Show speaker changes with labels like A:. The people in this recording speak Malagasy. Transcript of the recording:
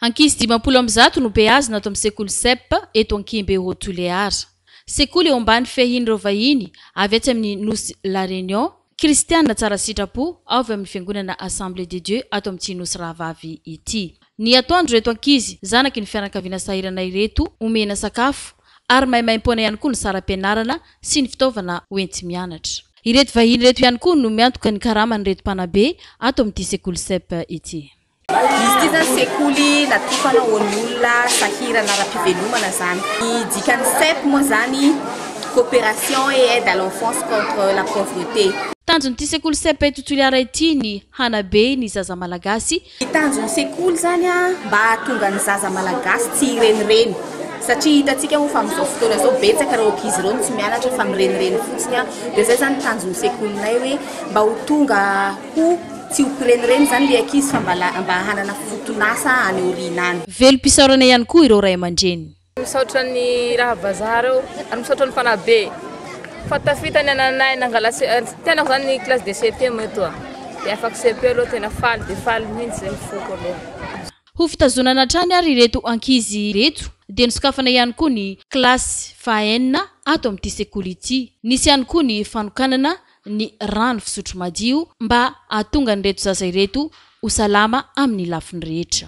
A: Ankizy dimampolo amby zato no beazina ato amin'ny sekoly Cepp eto Ankihimbe Haut Tuléar. Sekoly eo ambany fiahian'ireo vahiny avy atsy amin'ny nosy La Réunion, kristiana tsara sitrapo avy amin'ny fiangonana Assemblée de Dieu ato amin'ny tsy nosy rahavavy ity. Ny atoandro ireto ankizy zanaky ny fianakaviana sahirana ireto omena sakafo ary maimaimpoana ihany koa ny saram-pianarana sy ny fitaovana hoenti-mianatra. Ireto vahiny ireto ihany koa no miantoka ny karaman'ireto mpanabe ato amin'ity sekoly Cepp ity. Izy ity zany
B: sekoly natokana ho an'ny olona sahirana ara-pivelomana izany. Ny dikan'ny CEP moa izany, Coopération et aide à l'enfance contre la pauvreté. Tanjon'ity sekoly
A: CEP eto Toliara ity ny hanabe ny zaza malagasy. Ny tanjon'ny
B: sekoly izany mba hahatonga ny zaza malagasy tsy hirenireny satria hitantsika moa fa amin'izao fotoana izao betsaka ireo ankizy ireo no tsy mianatra fa mirenireny fotsiny dia izay izany ny tanjon'ny sekolinay hoe mba ho tonga Ko tsy ho kirenireny zany le ankizy fa mba mba hanana foton'asa any aoriana any. Velom-pisaorana ihany koa
A: ireo ray aman-dreny. Misaotra ny
C: raha vazaha reo ary misaotra ny fanahy be fa tafita ny ananay nangala tsy tenako zany ny classe de CEP moa eto a! de afaka CEP aloha tena faly dia faly mihintsy zay ny foko aloha. Ho fitazonana
A: hatrany ary ireto ankizy ireto dia nosokafana ihany koa ny classe faha enina ato amin'ity sekoly ity. Nisy ihany koa ny fanokanana ny rano fisotro madio mba hahatonga an'ireto zaza ireto ho salama amin'ny lafiny rehetra.